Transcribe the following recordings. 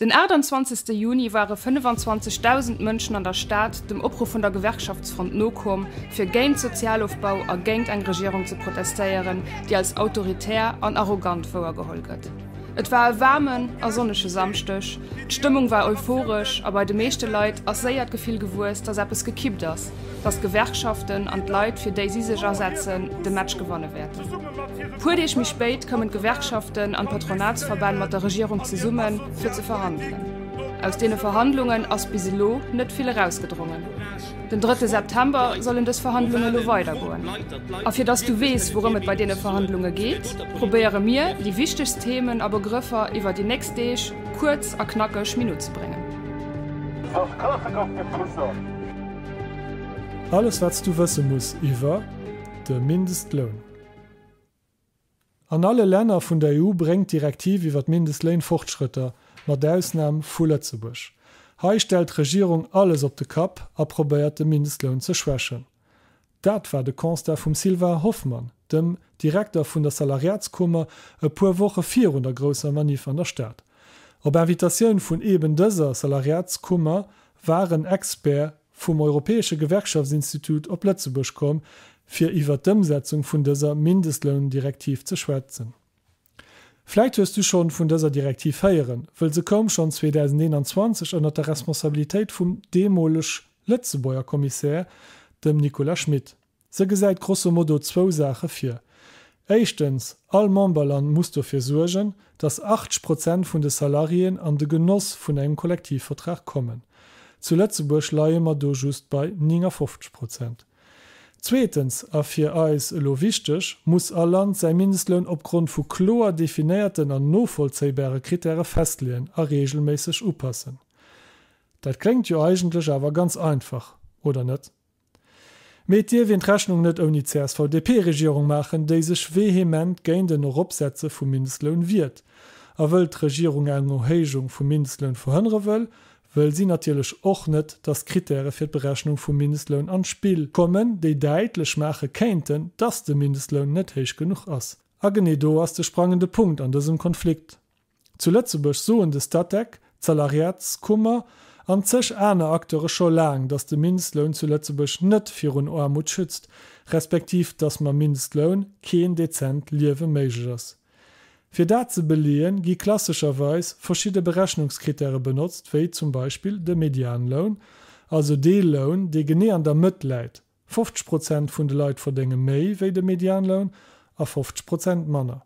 Den 28 Juni ware 25.000 Mënschen an der Stad dem Opruff vun der Gewerkschaftsfront nokomm, fir géint Sozialofbau a géint eng Regierung ze protestéieren, déi als autoritär an arrogant wouergeholl gëtt. Et war e waarmen a sonnege Samschdeg, d'Stëmmung war euphoresch a bei de meeschte Leit ass séier d'Gefill gewuess, datt eppes gekippt ass, datt d'Gewerkschaften an d'Leit, fir déi si sech asetzen, de Match gewanne wäerten. Puer Deeg méi spéit koumen d'Gewerkschaften an d'Patronatsverbänn mat der Regierung zesummen, fir ze verhandelen. Aus deene Verhandlungen ass bis elo net vill erausgedrongen. Den drëtte September sollen dës Verhandlunge lo weidergoen. A fir dass du weess, wourëm et bei deene Verhandlunge geet, probéiere mir, déi wichtegst Themen a Begrëffer iwwer déi nächst Deeg kuerz a knackeg minutzebréngen. Alles wat s du wësse muss iwwer. de Mindestloun. An alle Länner vun der EU bréngt d'Direktiv iwwer d'Mindestléin Fortschrëtter, mat Ausnam vu Lëtzebuerg. Hei stellt d'Regierung alles op de Kapp a probéiert de Mindestloun ze schwächen. Dat war de Constat vum Sylvain Hoffmann, dem Direkter vun der Salariatskummer, e puer Woche virun der grousser Manif an der Stad. Op Invitatioun vun eben dëser Salariatskummer waren Experts, vum Europäesche Gewerkschaftsinstitut op Lëtzebuerg komm, fir iwwer d'Ëmsetzung vun dëser Mindestloundirektiv ze schwätzen. Vläit hues du schonn vun dëser Direktiv héieren, wëll se koum schonn 2021 ënnert der Responsabilitéit vum deemoleg Lëtzebuerger Kommissär, dem Nicolas Schmit. Se gesäit grosso modo zwou Saache vir. Éischtens, all Memberland muss dofir suergen, datt 80 Prozent vun de Salariéen an de Genoss vun engem Kollektivvertrag kommen. Zu Lëtzebuerg leie mer do just bei 59 Prozent. Zweetens, a fir eis elo wichteg, muss all Land säi Mindestloun opgrond vu kloer definéierten an novollzéibare Krittäre festleeën a reegelméisseg upassen. Dat kléngt jo eigentlech awer ganz einfach, oder net? Mee et dierf een d'Rechnung net ouni CSV-DP-Regierung maachen, déi sech vehement géint en Eropsetze vum Mindestloun wiert. A wëll d'Regierung eng Erhéijung vum Mindestloun verhënnere wëll, wëll si natierlech och net, datt d'Krittäre fir d'Berechnung vum Mindestloun an d'Spill kommen, déi däitlech maache kéinten, datt de Mindestloun net héich genuch ass. A genee do ass de sprangende Punkt an dësem Konflikt. Zu Lëtzebuerg soen de Statec, d'Salariatskummer an zeg aner Acteure scho laang, datt de Mindestloun zu Lëtzebuerg net virun Aarmut schützt, respektiv datt mam Mindestloun keen dezent Liewe méiglech ass. Fir dat ze beleeën, gi klassescherweis verschidde Berechnungskrittäre benotzt, wéi zum Beispill de Medianloun, also dee Loun, dee genee an der Mëtt läit, 50 Prozent vun de Leit verdénge méi wéi de Medianloun a 50 Prozent manner.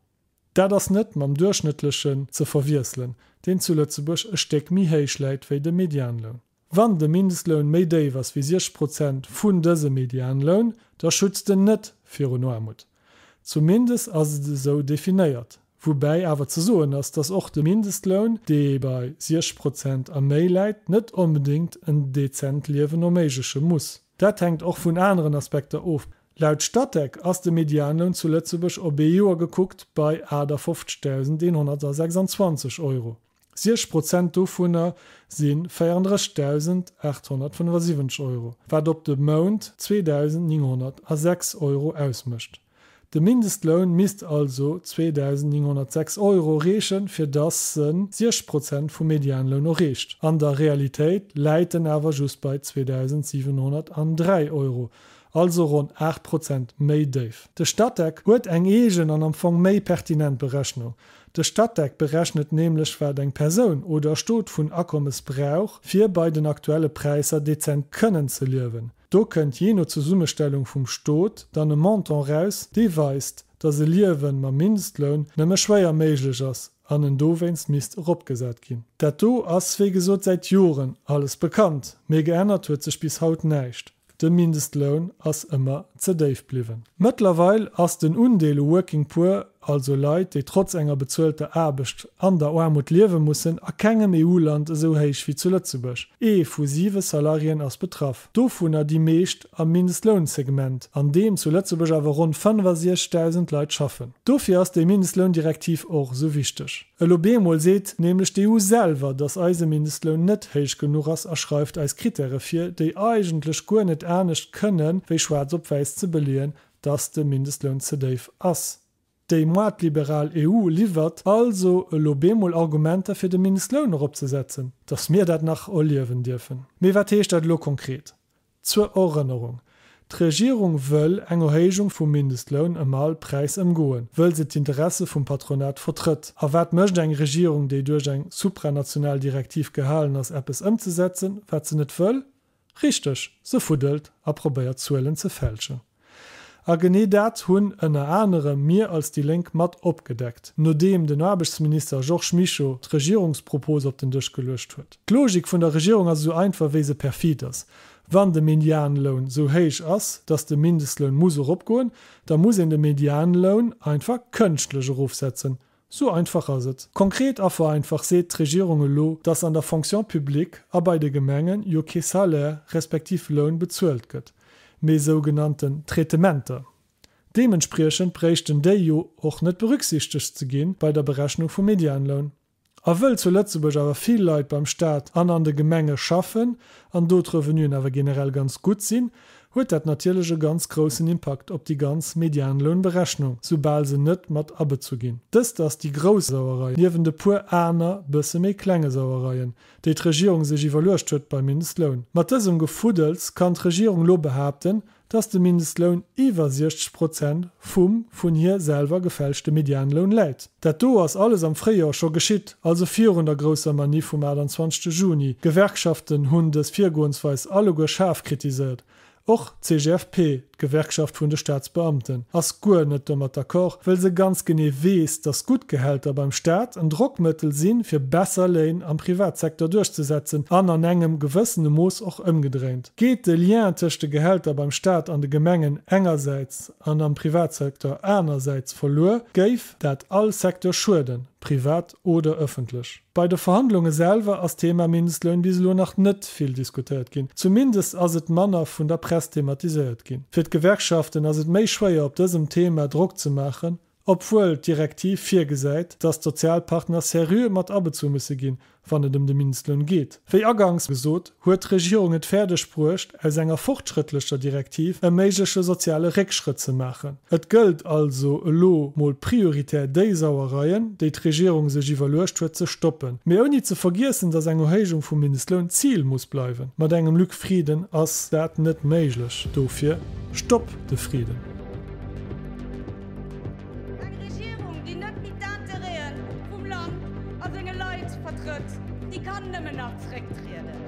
Dat ass net mam Duerchschnëttlechen ze verwiesselen, deen zu Lëtzebuerg e Stéck méi héich läit wéi de Medianloun. Wann de Mindestloun méi déif ass wéi 60 Prozent vun dësem Medianloun, da schützt en net virun Aarmut. Zumindest ass et esou definéiert, woubäi awer ze soen ass, dass och de Mindestloun, dee bei 60 Prozent a méi läit, net onbedéngt en dezent Liewen erméigleche muss. Dat hänkt och vun aneren Aspekter of, Laut Statec ass de Medianloun zu Lëtzebuerg op ee Joer gekuckt bei 58.126 Euro. Siech Prozent dovunner si 34.875 Euro, wat op de Mount 2.906 Euro ausmécht. De Mindestloun misst also 2.906 Euro reechen, fir datt se siech Prozent vum Medianloun erreecht. An der Realitéit läit en awer just bei 2.703 Euro, also ronn 8 Prozent méi déif. De Statec huet eng eegen an am Fong méi pertinent Berechnung. De Statec berechnet nämlech, wat eng Persoun oder e Stot vun Akommes brauch, fir bei den aktuelle Präisser dezent kënnen ze liewen. Do kënnt jee no Zesummestellung vum Stot dann e Montant raus, dee weist, datt e Liewen mam Mindestloun nëmme schwéier méiglech ass an en dowéinst misst eropgesat ginn. Dat do ass, wéi gesot, säit Joren alles bekannt, mee geännert huet sech bis haut näischt. De Mindestloun ass ëmmer ze déif bliwwen. Mëttlerweil ass den Undeel u Working Poor, also Leit, déi trotz enger bezuelter Aarbecht an der Aarmut liewe mussen, a kengem EU-Land esou héich wéi zu Lëtzebuerg. Ee vu siwe Salariéen ass betraff, dovunner déi meescht am Mindestlounsegment, an deem zu Lëtzebuerg awer ronn 65.000 Leit schaffen. Dofir ass déi Mindestloundirektiv och esou wichteg. Elo bemol seet nämlech d'EU selwer, datt eise Mindestloun net héich genuch ass a schreift eis Krittäre vir, déi eigentlech guer net anescht kënnen, wéi schwaarz op wäiss ze beleeën, datt de Mindestloun ze déif ass. Déi moatliberal EU liwwert also elo bemol Argumenter fir de Mindestloun eropzesetzen. Datt mir dat nach erliewen dierfen. Mee wat heescht dat elo konkret? Zur Erënnerung, D'Regierung wëll eng Erhéijung vum Mindestloun ëm all Präis ëmgoen, wëll se d'Interesse vum Patronat vertrëtt. A wat mécht eng Regierung, déi duerch eng supranational Direktiv gehalen ass, eppes ëmzesetzen, wat se net wëll? Richteg, se fuddelt a probéiert Zuelen ze fälschen. A genee dat hunn ënner anerem mir als déi Lénk mat opgedeckt, nodeem den Aarbechtsminister Georges Mischo d'Regierungspropose op den Dësch geluecht huet. D'Logik vun der Regierung ass esou einfach wéi se perfid ass. Wann de Medianloun esou héich ass, datt de Mindestloun muss eropgoen, da muss een de Medianloun einfach kënschtlech erofsetzen, Sou einfach ass et. Konkret a vereinfacht seet d'Regierung elo, dass an der Fonction publique a bei de Gemengen jo kee Salaire respektiv Loun bezuelt gëtt, mee sougenannten Traitementer. Deementspriechend bréichten déi jo och net berücksichtegt ze gi bei der Berechnung vum Medianloun. A wëll zu Lëtzebuerg awer vill Leit beim Staat an an de Gemenge schaffen an do d'Revenuen awer generell ganz gutt sinn, huet dat natierlech e ganz groussen Impakt op déi ganz Medianlounberechnung, soubal se net mat abezu ginn. Dëst ass déi grouss Sauerei, niewent e puer aner, bësse méi klenge Sauereien, déi d'Regierung sech iwwerluecht huet beim Mindestloun. Mat dësem Gefuddels kann d'Regierung lo behaapten, dass de Mindestloun iwwer 60 Prozent vum vun hir selwer gefälschte Medianloun läit. Dat do ass alles am Fréijor scho geschitt, also virun der grousser Maniff vum 28 Juni. D'Gewerkschaften hunn dës Virgoensweis alleguer schaarf kritiséiert, och d'CGFP, d'Gewerkschaft vun de Staatsbeamten, ass guer net domat d'accord, well se ganz genee weess, datt gutt Gehälter beim Staat en Drockmëttel sinn, fir besser Léin am Privatsektor duerchzesetzen an an engem gewëssene Mooss och ëmgedréint. Geet de Lien tëscht de Gehälter beim Staat an de Gemengen engersäits an am Privatsecteur anersäits verluer, géif dat all Secteur schueden, privat oder ëffentlech. Bei de Verhandlunge selwer ass d'Thema Mindestloun bis elo nach net vill diskutéiert ginn, zumindest ass et manner vun der Press thematiséiert ginn. Fir d'Gewerkschaften ass et méi schwéier op dësem Thema Drock ze maachen, Obwuel d'Direktiv virgesäit, datt d'Sozialpartner seriö mat abezu musse ginn, wann et ëm de Mindestloun geet. Wéi aganks gesot, huet d'Regierung et fäerdeg bruecht, aus enger fortschrëttlecher Direktiv e méigleche soziale Réckschrëtt ze maachen. Et gëllt also elo mol prioritär déi Sauereien, déi d'Regierung sech iwwerluecht huet, ze stoppen, mee ouni ze vergiessen, datt eng Erhéijung vum Mindestloun d'Zil muss bleiwen. Mat engem Luc Frieden ass dat net méiglech. Dofir, Stopp! de Friden. Eng Regierung, déi net méi d'Intérêt'en vum Land a senge Leit vertrëtt, déi kann nëmmen nach zrécktrieden.